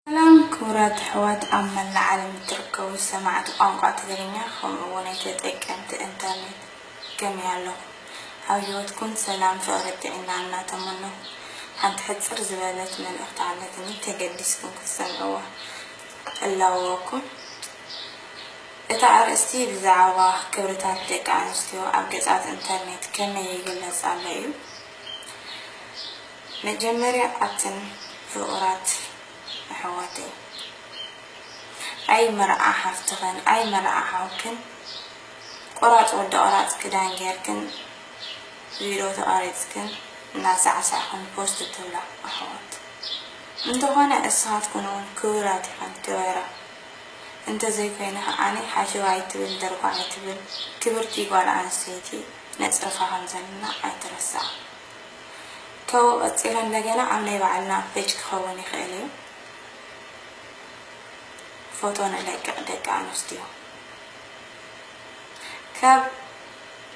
ሰላም ክቡራት ኣሕዋት ኣብ መላእ ዓለም እትርከቡ ሰማዕቲ ቋንቋ ትግርኛ ከምኡ እውንይ ተጠቀምቲ እንተርኔት ከመይ ኣለኹም ኣብ ሂወትኩም ሰላም ፍቅሪ ጥዒና እናተመነኹ ሓንቲ ሕጽር ዝበለት መልእኽቲ ኣለትኒ ተገዲስኩም ክትሰምዕዋ እላወወኩም እታ ኣርእስቲ ብዛዕባ ክብርታት ደቂ ኣንስትዮ ኣብ ገጻት እንተርኔት ከመይ ይግለጽ ኣሎ እዩ። መጀመርያ ኣትን ፍቁራት ኣሕዋተይ ኣይ መርዓ ሓፍትክን ኣይ መርዓ ሓውክን ቆራፅ ወዲ ቆራፅ ክዳን ገይርክን ቪዶ ተቀሪፅክን እናሳዕሳዕክን ፖስት ትብላ ኣሕዋት እንተኮነ እስካትኩን እውን ክብራት ኢክን ክበራ እንተዘይ ኮይነ ከዓ ሓሸውየ ኣይትብል ደርጓ ኣይትብል ክብርቲ ጓል ኣንስተይቲ ነፅርፋ ከምዘለና ኣይትረሳዕ። ተው ቀጺሎ እንደገና ኣብ ናይ ባዕልና ፔጅ ክኸውን ይኽእል እዩ ፎቶ ንለቅቅ ደቂ ኣንስትዮ ካብ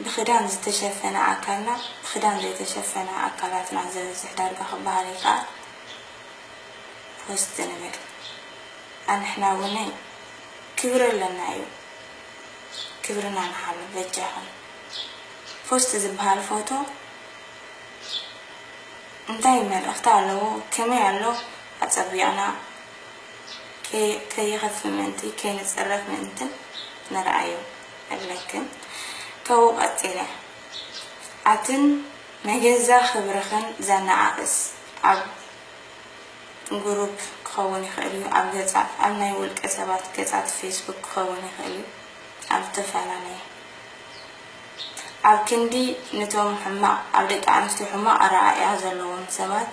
ብክዳን ዝተሸፈነ ኣካልና ብክዳን ዘይተሸፈነ ኣካላትና ዘብዝሕ ዳርጋ ክበሃል ይከኣል ፖስት ንብል ኣንሕና ውነይ ክብሪ ኣለና እዩ ክብርና ንሓሉ በጃኹም። ፖስት ዝብሃል ፎቶ እንታይ መልእኽቲ ኣለዎ ከመይ ኣሎ ኣጸቢቕና ከይኸፍእ ምእንቲ ከይንጽረፍ ምእንትን ንርኣዮ እብለክን ካብኡ ቀጺለ ኣትን ንገዛ ክብርኽን ዘነኣእስ ኣብ ጉሩፕ ክኸውን ይኽእል እዩ ኣብ ገጻት ኣብ ናይ ውልቀ ሰባት ገጻት ፌስቡክ ክኸውን ይኽእል እዩ ኣብ ዝተፈላለየ ኣብ ክንዲ ንቶም ሕማቕ ኣብ ደቂ ኣንስትዮ ሕማቕ ኣረኣእያ ዘለዎም ሰባት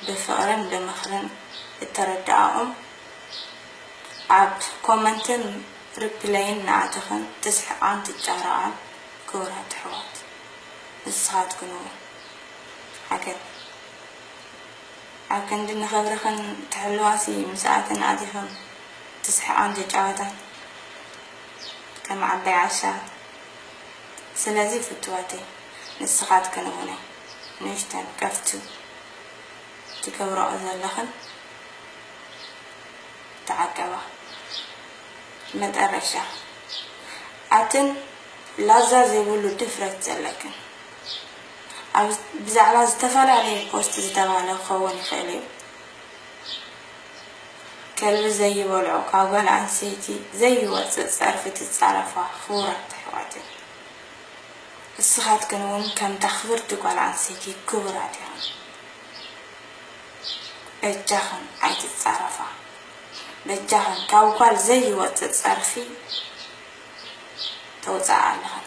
ብፍቕርን ብምኽርን እተረድኣኦም ኣብ ኮመንትን ሪፕለይን ናኣተኽን ትስሕቓን ትጫረቓን ክቡራት ኣሕዋት ንስኻትክን እውን ዓገብ ኣብ ክንዲ ንኽብርኽን ትሕልዋሲ ምስኣተን ኣቲኽን ትስሕቓን ትጫወታን። ከም ዓባይ ዓሻ ስለዚ ፍቱዋተይ ንስኻትክን እውነ ንእሽተን ቀፍቱ ትገብርኦ ዘለኽን ተዓቀባ መጠረሻ ኣትን ላዛ ዘይብሉ ድፍረት ዘለክን ኣብ ብዛዕባ ዝተፈላለዩ ፖስት ዝተባህለ ክኸውን ይኽእል እዩ። ከልቢ ዘይበልዖ ካብ ጋል ኣንሰይቲ ዘይወጽእ ጸርፊ ትጻረፋ ክቡራት ኣሕዋተይ እስኻትክን ውን ከምታ ክብርቲ ጋል ኣንሰይቲ ክቡራት ኢኽን በጃኽን ኣይትጻረፋ በጃኽን ካብ ጋል ዘይወጽእ ጸርፊ ተውጽኣ ኣለኽን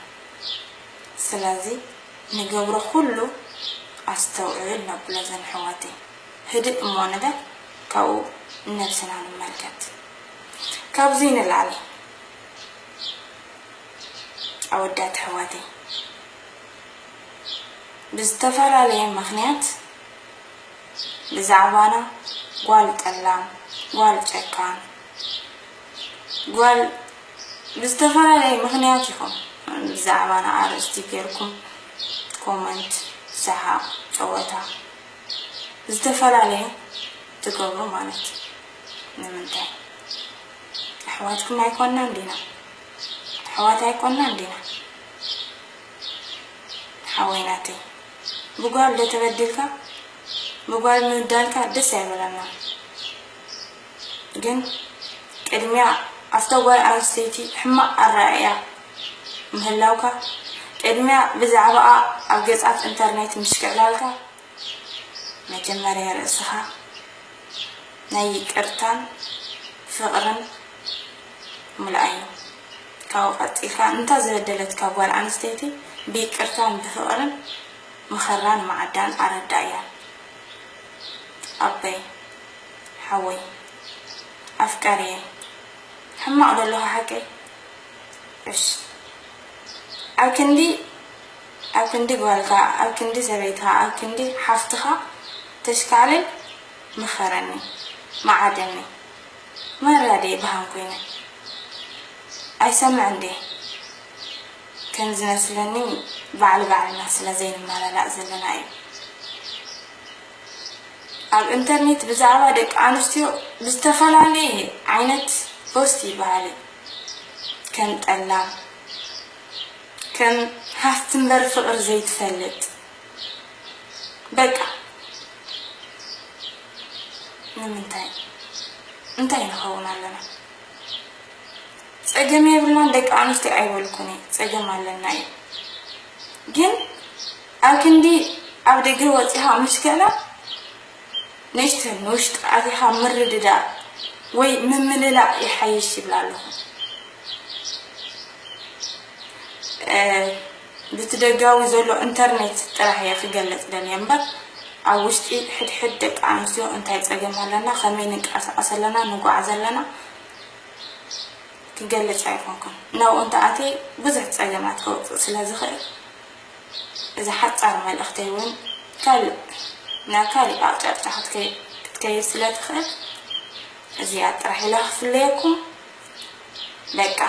ስለዚ ንገብሮ ኩሉ ኣስተውዕል ነብሎ ዘን ኣሕዋተይ። ህድእ እሞ ንበል ካብኡ ንነብስና ንመልከት ካብዙይ ንላዕሊ ኣወዳት ኣሕዋተይ ብዝተፈላለየ ምክንያት ብዛዕባና ጓል ጠላም ጓል ጨካን ጓል ብዝተፈላለየ ምክንያት ይኹን ብዛዕባና ኣርእስቲ ገርኩም ኮመንት ሰሓቅ ጨወታ ዝተፈላለየ ትገብሩ ማለት ንምንታይ ኣሕዋትኩም ኣይኮናን ዲና ኣሕዋት ኣይኮናን ዲና ሓወይ ናተይ ብጓል ዶ ተበዲልካ ብጓል ምብዳልካ ደስ ኣይበለናን ግን ቅድሚያ ኣብታ ጓል ኣንስተይቲ ሕማቕ ኣረኣእያ ምህላውካ፣ ቅድሚያ ብዛዕባኣ ኣብ ገጻት ኢንተርኔት ምሽክዕላልካ፣ መጀመርያ ርእስኻ ናይ ይቅርታን ፍቕርን ሙልኣዮ። ካብኡ ቀጺልካ ንታ ዝበደለትካ ጓል ኣንስተይቲ ብይቅርታን ብፍቕርን ምኸራን ማዕዳን ኣረዳእያ። ኣበይ? ሓወይ ኣፍቃሪየይ ሕማቅ ዶ ኣለኩ ሓቀይ ዕሽ ኣብ ክንዲ ኣብ ክንዲ ጓልካ ኣብ ክንዲ ሰበይትካ ኣብ ክንዲ ሓፍትካ ተሽካዕልል ምከረኒ መዓደኒ ማራ ድየ በሃም ኮይነ ኣይሰምዕን ድየ ከም ዝመስለኒ ባዕል ባዕልና ስለ ዘይንመላላእ ዘለና እዩ። ኣብ እንተርኔት ብዛዕባ ደቂ ኣንስትዮ ብዝተፈላለየ ዓይነት ፖስት ይበሃል እዩ ከም ጠላም ከም ሃፍቲ እምበር ፍቅሪ ዘይትፈልጥ በቃ ንምንታይ እንታይ ንኸውን ኣለና ጸገም የብልናን ደቂ ኣንስትዮ ኣይበልኩን እየ ጸገም ኣለና እዩ ግን ኣብ ክንዲ ኣብ ደገ ወጺኻ ምሽከላ፣ ንእሽተይ ንውሽጢ ኣቲኻ ምርድዳእ ወይ ምምልላእ ይሓይሽ ይብል ኣለኹ። ብቲ ደጋዊ ዘሎ እንተርኔት ጥራሕ እየ ክገለጽ ደልየ እምበር፣ ኣብ ውሽጢ ሕድሕድ ደቂ ኣንስትዮ እንታይ ጸገም ኣለና፣ ከመይ ንንቀሳቐስ ኣለና፣ ንጉዓዝ ኣለና፣ ክገልጽ ኣይኮንኩን። ናብኡ እንተኣትየ ብዙሕ ጸገማት ከውጽእ ስለዝኽእል። እዛ ሓጻር መልእኽተይ እውን ካልእ ናብ ካልእ ኣቕጫጫ ክትከይድ ስለ ትኽእል እዚኣ ጥራሕ ኢላ ክፍለየኩም በቃ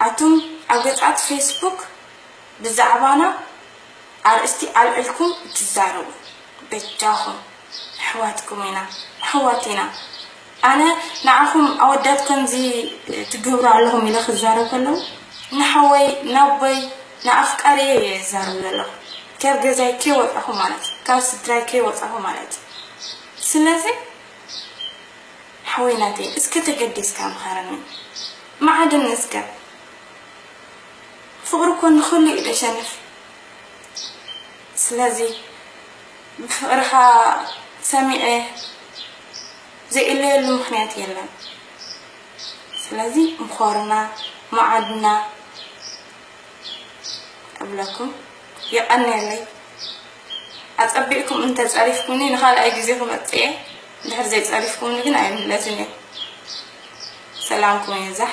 ኣቱም ኣብ ገጻት ፌስቡክ ብዛዕባና ኣርእስቲ ኣልዒልኩም እትዛረቡ በጃኹም ኣሕዋትኩም ኢና ኣሕዋት ኢና ኣነ ንዓኹም ኣወዳት ከምዚ ትግብሩ ኣለኹም ኢለ ክዛረብ ከለኹ ንሓወይ ናቦይ ንኣፍቃሪየይ እየ ዝዛረብ ዘለኹ ከብ ገዛይ ከይወጻኹ ማለት እዩ ካብ ስድራይ ከይወጻኹ ማለት እዩ ስለዚ ሓወይ ናተይ እስከ ተገዲስካ ምኸረኒ መዓድኒ እስከ ፍቕሪ እኮ ንኹሉ እዩ ደሸንፍ ስለዚ ብፍቕርኻ ሰሚዐ ዘይእለየሉ ምኽንያት የለን ስለዚ ምኾርና ማዓድና እብለኩም የቐንየለይ ኣጸቢቕኩም እንተጸሪፍኩምኒ ንኻልኣይ ግዜ ክመጽእ እየ እንድሕር ዘይጸሪፍኩምኒ ግን ኣይምለስን እየ ሰላምኩም የብዛሕ